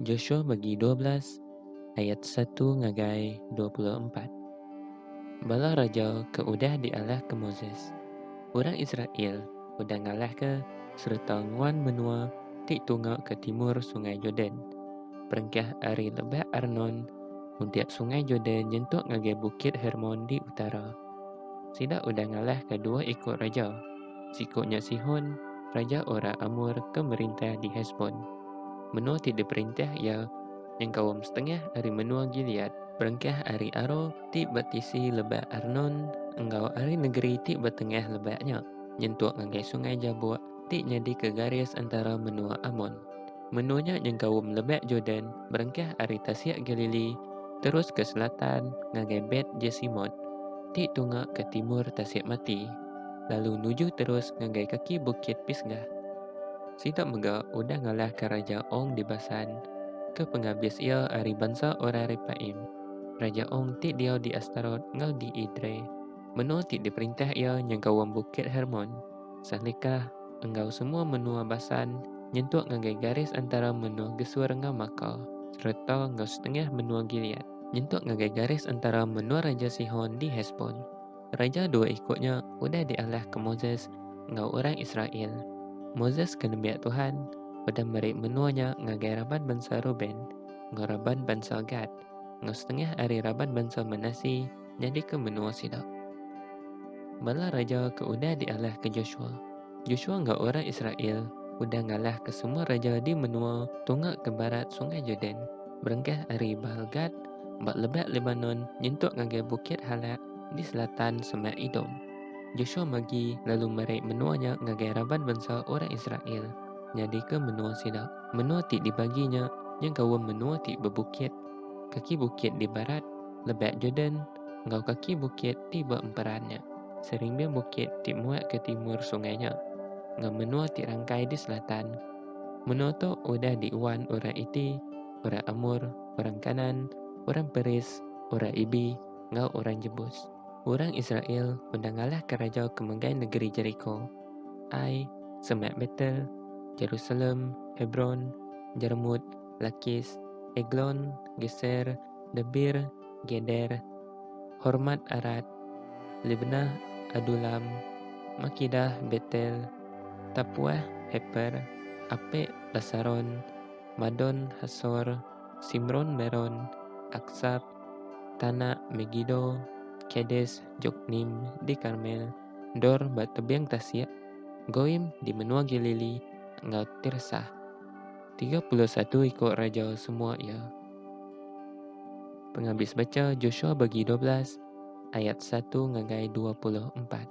Joshua bagi dua belas ayat satu ngagai dua puluh empat. Bala raja ke udah dialahka Moses, orang Israel udah ngalahka sereta nguan menua ti tunga ke timur Sungai Jordan, perengkah ari Lebak Arnon mudip Sungai Jordan nyentuk ngagai Bukit Hermon di utara. Sida udah ngalahka dua iku raja. Siku nya Sihon, raja orang Amor ke merintah di Hesbon. Menua ti diperintah iya nyengkaum setengah ari menua Gilead. Berengkah ari Aroer ti betisi lebak Arnon enggau ari negeri ti betengah lebak nya, nyentuk ngagai Sungai Jabok ti nyadika garis entara menua Amon. Menua nya nyengkaum Lebak Jordan berengkah ari Tasik Galili terus ke selatan ngagai Bet Jesimot ti tunga ke timur Tasik Mati. lalu nuju terus ngagai kaki Bukit Pisgah. Sida mega udah ngalahka Raja Ong di Basan, ke pengabis iya ari bansa orang Repaim. Raja Ong ti diau di Astarot enggau di Edrei, menua ti diperintah iya nyengkaum Bukit Hermon, Salekah, enggau semua menua Basan nyentuk ngagai garis antara menua Gesur enggau Makah, sereta enggau setengah menua Gilead nyentuk ngagai garis antara menua Raja Sihon di Hesbon. Raja dua iku nya udah dialahka Moses enggau orang Israel. Moses ke nembiak Tuhan udah meri menua nya ngagai raban bansa Reuben enggau raban bansa Gad enggau setengah ari raban bansa Manase nyadika menua sida. Bala raja ke udah dialahka Joshua. Joshua enggau orang Israel udah ngalahka semua raja di menua tunga ke barat Sungai Jordan, berengkah ari Baal-Gad ba lebak Lebanon nyentuk ngagai Bukit Halak di selatan semak Edom. Joshua magi lalu meri menua nya ngagai raban bansa orang Israel nyadika menua sida. Menua ti dibagi nya nyengkaum menua ti bebukit, kaki bukit di barat Lebak Jordan enggau kaki bukit ti ba emperan nya, serimbing bukit ti muak ke timur sungai nya, enggau menua ti rangkai di selatan. Menua tu udah diuan orang Iti, orang Amor, orang Kanaan, orang Peris, orang Ibi, enggau orang Jebus. Orang Israel udah ngalahka raja ke megai negeri Jeriko, Ai, semak Betel, Jerusalem, Hebron, Jermut, Lakis, Eglon, Geser, Debir, Geder, Hormat Arat, Libnah, Adulam, Makidah, Betel, Tapuah, Heper, Apek, Basaron, Madon, Hasor, Simron, Meron, Aksab, Tanah Megido, Kades, Joknim, di Karmel, Dor ba tebiang tasik, Goim di menua Galili, enggau Tirsa. Tiga puluh satu iku raja semua iya. Pengabis bacha Joshua bagi dua belas, ayat satu ngagai dua puluh empat.